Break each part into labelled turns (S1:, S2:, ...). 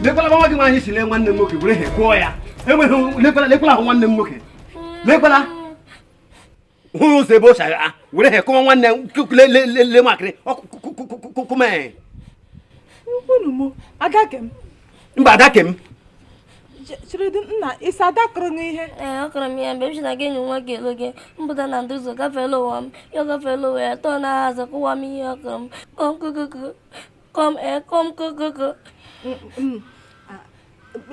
S1: lekwala nwa gị nwaanyị si lee nwanne m nwoke were ihe kụọ ya enweghị lekwala ahụ nwanne m nwoke lekwala hụrụ ụzọ ebe o si agha were ihe kụọ m nwanne lele makịrị kụ m
S2: mba adake
S1: m
S2: chiridi nna isi adakụrụ gị ihe ee ọ kụrụ m ihe mgbe
S3: m si na gị enyi nwoke elo gị mpụta na ndị ụzọ gafeela ụwa m ya gafeela ụwa ya tọọ na azụ kụwa m ihe ọ kụrụ m kokoko kọm ekọm eh,
S2: kokoko mm, mm. ah,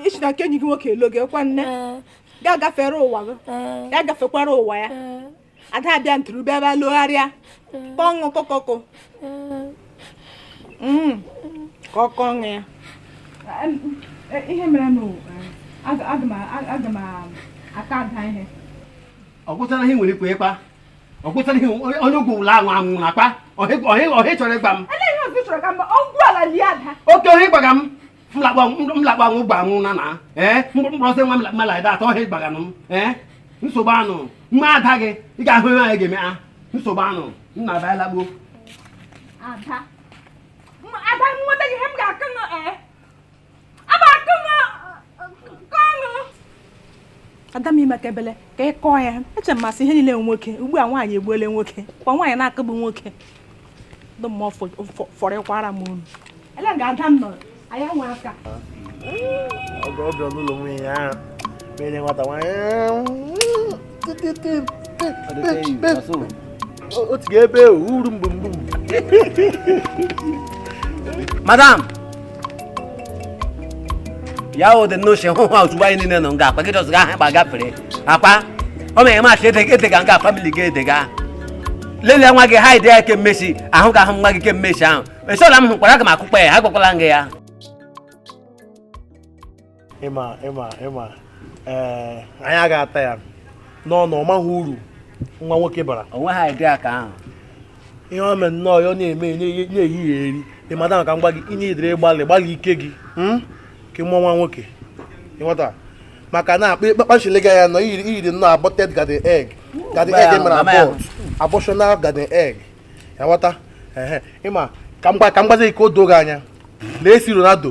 S2: ị si na nke enyi gị nwoke elo gị kwa nne eh. ya gafere ụwa gị eh. ya gafekwara ụwa ya ada abịa nturube ebe logharịa kpọṅụ kokoko mm. ka ọ kụọnụ ya ihe mere na aga m aka ada ihe ọ gwụtara
S1: ihe nwere ikwe ịkpa ọ gwụtara ihe onye ugwu ụlọ ahụ anwụ na akpa ọhị chọrọ ịgba
S2: m oke ọhị gbaga m
S1: m lakpa anwụ gba anwụ na na ee mkpụrụ ọsọ nwa mala ede atọ ọhị gbaga m ee nsogbu anụ mma ada gị ị ga-ahụ ihe anyị ga-eme ha nsogbu anụ nna abaala gboo ada
S2: nweta gị ihe m ga-akụ ada m i meka ebele ka ị kụọ ya eche m masị ihe niile nwoke ugbu a nwaanyị egbuole nwoke ka nwaanyị na-akụgbu nwoke dị m mma fọrịkwara m unu elega ada m nọ anya nwe
S4: aka ọgọ ọbịa n'ụlọ nwunye ya mere nwata nwaanyị otu ga ebe uru mgbe
S1: mgbu madam ya o dị n'oche hụ ha ozugbo anyị niile nọ nga akpa gị just ga ahụ gafere akpa ọ mere maachị edega nga family gị edega lelee nwa gị ha ide ya ke mmesi ahụ ga ahụ nwa gị ke mmesi ahụ esola m hụkwara aga m akụkpa ya ha gwakwala nga ya
S4: ị ma ị ma ị ma ee eh, anyị ga-ata ya n'ọnụ ọ maghị uru nwa nwoke bara onwe ha ide aka ahụ
S1: ihe o
S4: mere nnọọ ya ọ na-eme na-ehihie eri ịmata maka mgba gị inye idere gbalị gbalị ike gị hmm? ka mụọ nwa nwoke ị ghọta maka na akpa ịkpakpachile gị anya na i yiri nnọọ aborted garden egg garden egg mere abort abortional garden egg ị ghọta ị ma ka m gbazi ike o doo gị anya lee si Ronaldo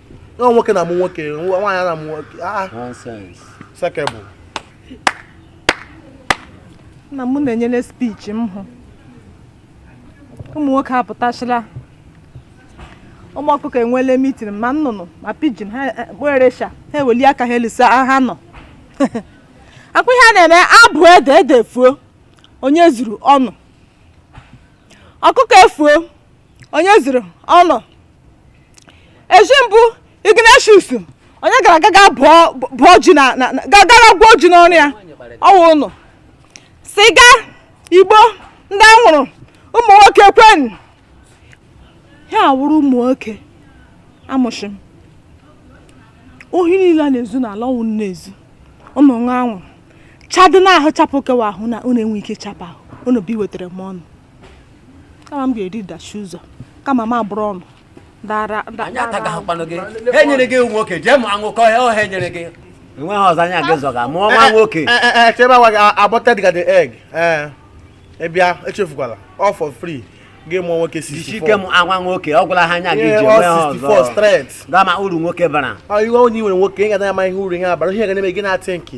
S4: na nwoke na-amụ nwoke nwaanyị na-amụ nwoke ah,
S1: ah.
S2: sekebụ na mụ na-enyere speech m hụ ụmụ nwoke apụtachila ụmụ ọkụkọ enweela meeting ma nnụnụ ma pigeon ha eh, kperesha ha eweli aka ha elisa ah, ha nọ akwụ ihe a na-eme abụ ede ede fuo onye zuru ụnụ ọkụkọ efuo onye zuru ụnụ echi mbụ ignatius onye gara aga gaa bụọ bụọ ji na na- na- ga- gara gwuo ji n'ọrụ ya ọ wụ ụnụ siga igbo ndị a wụrụ ụmụ nwoke kwenu ha awụrụ ụmụ nwoke amụshị m ohi niile a na-ezu n'ala ọ wụ ụnụ na-ezu ụnụ ṅụ anwụ chadị n'ahụ chapụ kewa ahụ na ụnụ enwe ike chapụ ahụ ụnụ bụ iwetara m ọnụ kama m ga-eri dachi ụzọ kama m abụrụ ọnụ dara
S1: anyị ataghị ahụkpanụ gị ha enyere gị ewu nwoke jee mụ anwụkọ ya ọha enyere gị enweghị ọzọ anya gị zọga mụọ nwa nwoke chebe agwa gị
S4: abọta dịga the egg ị bịa echefukwala all for free gị mụọ nwoke 64 ike m anwa
S1: nwoke ọ gwụla ha anya gị ji onwe ha ọzọ ga-ama
S4: uru nwoke bara
S1: iwe onye nwere nwoke
S4: ị ga-adanya ma ihe uru ihe abara ihe ga na-eme gị na-atị nke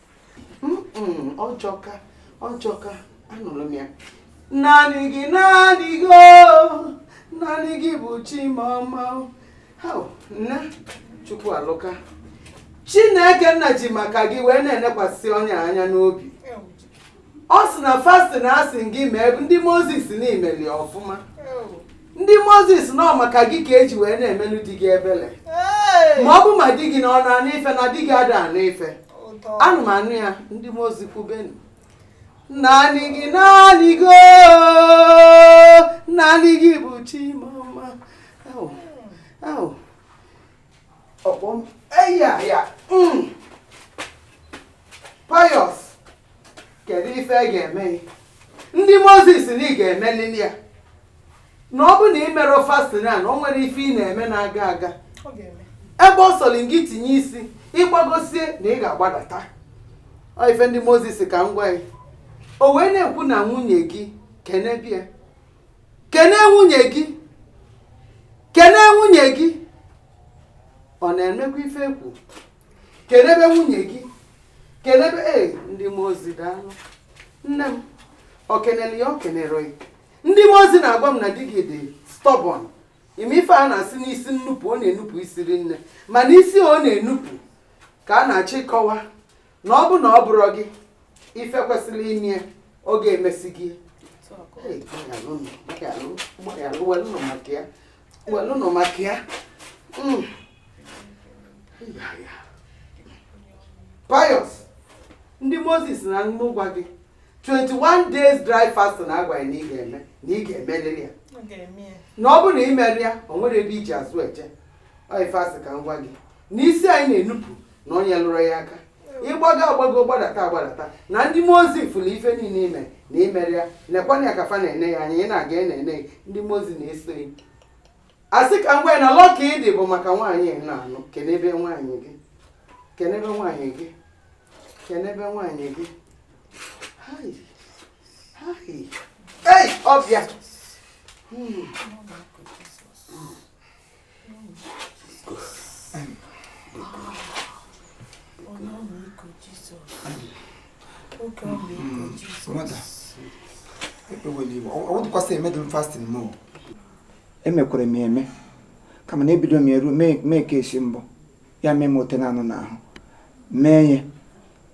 S5: ọjọka ọjọka anụrụ m ya naanị gị naanị gị o naanị gị bụ chi m ọma nna chukwu alụka chineke nna ji maka gị wee na-enekwasị onye anya n'obi ọ sị na fasting a sị gị mee ndị mmụọ ozi sị na i meli ọfụma ndị mmụọ ozi sị na ọ maka gị ka e ji wee na-emelu di gị ebele ma ọ bụ ma di gị na ọ na-anụ ife na di gị ada anụ ife anụ m anụ ya ndị mmụọ ozi kwubenu naanị gị naanị gị oo, naanị gị bụ chi m ọma Au, au. ọkpọ m eya ya mm. Pius kedu ife a ga-eme ndị mmụọ ozi sị na ị ga-emelili ya na ọ bụ na ị mere fasting a na o nwere ife ị na-eme na-aga aga ebe ọ sọrọ gị tinye isi ị gbagosie na ị ga-agbadata ọ ife ndị mmụọ ozi sị ka m gwa ya o wee na-ekwu na nwunye gị kene bịa kene nwunye gị kene nwunye gị ọ na-emekwa ife ekwu kenebe nwunye gị kenebe e ndị mmụọ ozi daalụ nne m o kenere ya o kenere ya ndị mmụọ ozi na-agwa m na di gị dị stubborn ị ma ife a na-asị n'isi nnupụ ọ na-enupụ isi rinne mana isi ọ na-enupụ ka a na-achọ ịkọwa na ọ bụ na ọ bụrọ gị ife kwesili ime ọ ga-emesi gị Hey, gbalịalụ nụ, gbalịalụ, gbalịalụ, welụ nụ maka ya welụnụ maka ya mm. Pius ndị mmụọ ozi sị na mụ gwa gị 21 days dry fasting agwa ya na ị ga-eme na ị ga-emelili ya na ọ bụrụ na i merọ ya o nwerọ ebe i ji azụ eje ọ ife a sị ka m gwa gị na isi anyị na-enupụ na onye lụrụ ya aka ị gbago agbago gbadata agbadata na ndị mmụọ ozi fụlụ ife niile i me na i merọ ya nekwana ya ka fa na-ene ya anya ị na-aga ị na-ene ndị mmụọ ozi na-eso ya a sị ka m gwa na luck a ị dị bụ maka nwaanyị ị na-anụ kenebe nwaanyị gị kenebe nwaanyị gị kenebe nwaanyị gị ọbịa hmm.
S6: emekwere m eme kama na ebido m eru mee ka esi mbụ ya mee m ote na anụ n'ahụ mee ya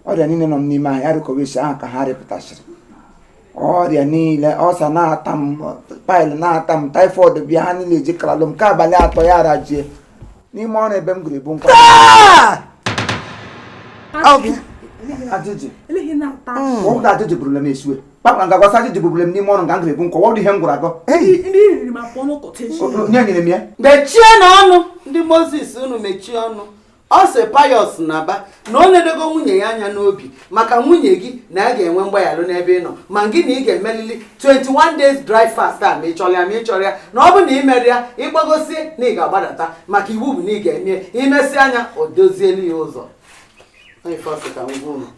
S6: ọrịa niile nọ n'ime anyị arịkọwa isi ahụ ka ha rịpụtasịrị ọrịa niile ulcer na-ata m pile na-ata m typhoid bịa ha niile eji kalalụ m ka abalị atọ ya arajie n'ime ọrụ ebe m gụrụ ebu nkwa ajụjụ ọgwụ ajụjụ bụrụla m esiwe kpakpa nga gwasa ajụjụ bụrụla m n'ime ọrụ nga m gụrụ ebu nkwa ọdụ ihe m gwụrụ agọ nye nyere m ya mechienụ
S5: ọnụ ndị mmụọ ozi sị unu mechie ọnụ ọ sị Pius naba na o nenego nwunye gị anya n'obi maka nwunye gị na a ga-enwe mgbaghalụ n'ebe ị nọ ma gị na ị ga-emelili 21 days dry fast a ma ị chọlụ ya ma ị chọrọ ya na ọ bụ na i merọ ya ị gbagosie na ị ga-agbadata maka iwu bụ na ị ga-eme i mesịa nya o dozielu ya ụzọ ọ ife a sị ka m gwa unu.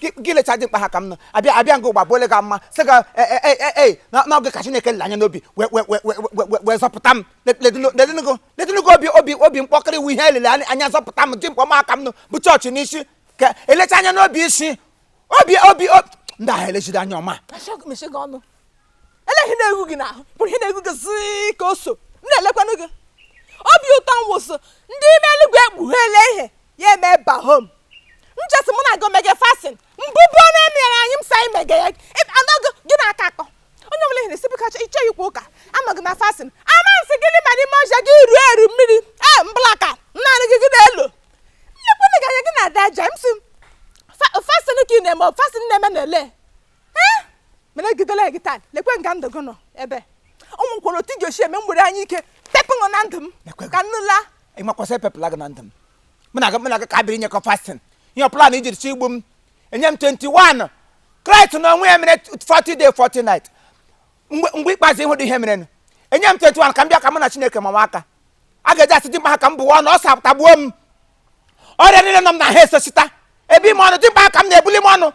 S6: gị lecha dị mkpa ha ka m nọ abịa abịa nga ụgba bụ ole ga mma sị ga ee n'oge ka Chineke lele anya n'obi wee zọpụta m ledịnugo obi obi obi mkpọkịrị iwu ihe elele anya zọpụta m dị mkpa ọma aka m nọ bụ chọọchị n'isi ka elecha anya n'obi isi obi obi ndị ahụ elejide anya ọma
S2: ele ihe na-egwu gị n'ahụ bụ ihe na-egwu gị zii ka o so m na-elekwanụ gị obi ụtọ m wụsị ndị ime eluigwe ekpugheela ihe ya eme bahom m chesi mụ na gị omege fasting mbubu ọnụ e mere anyị m sa imege ya anọgị gị na-aka akọ onye ọbụla ihe na-esi bụka ịchọ ikwu ụka anọghị na fasting ama nsị gị n'ime n'ime ọja gị ruo eru mmiri e mblaka naanị gị gị na-elo nnekwu gị anya gị na-ada aja m si fasting ka ị na-eme fasting na-eme na ele ee mana egidela gị taa lekwe nga ndụ gị nọ ebe ụmụ kwere otu ji ochi eme mgbere anya ike pepụ na ndụ m ka nnu laa ịmakwasị epepụla
S6: gị na ndụ m mụ na gị ka biri nyekọ fasting ihe plan ijiri si igbu m enye m 21 kraịst na onwe ya mere 40 day 40 night mgbe ikpeazụ ị hụ ụdị ihe merenụ enye m 21 ka m bịa ka mụ na chineke mawa aka a ga-eji asị dimkpa ha ka m bụwa ọnụ ulcer atagbuo m ọrịa niile nọ m n'ahụ esosita ebe ime ọnụ dimkpa ha ka m na-ebuli m ọnụ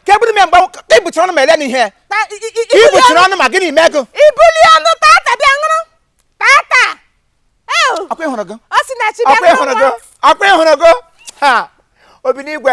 S6: ka ebuli m mgbe ka ibuchiri ọnụ ma ele na ihe ibuchiri ọnụ ma gịnị mee gị ibuli ọnụ
S2: tata bịa ṅụrụ tata
S6: Ew, ọkwa ịhụrụ gị Osinachi bịa ṅụrụ
S2: ọkwa ịhụrụ gị
S6: ha obi n'igwe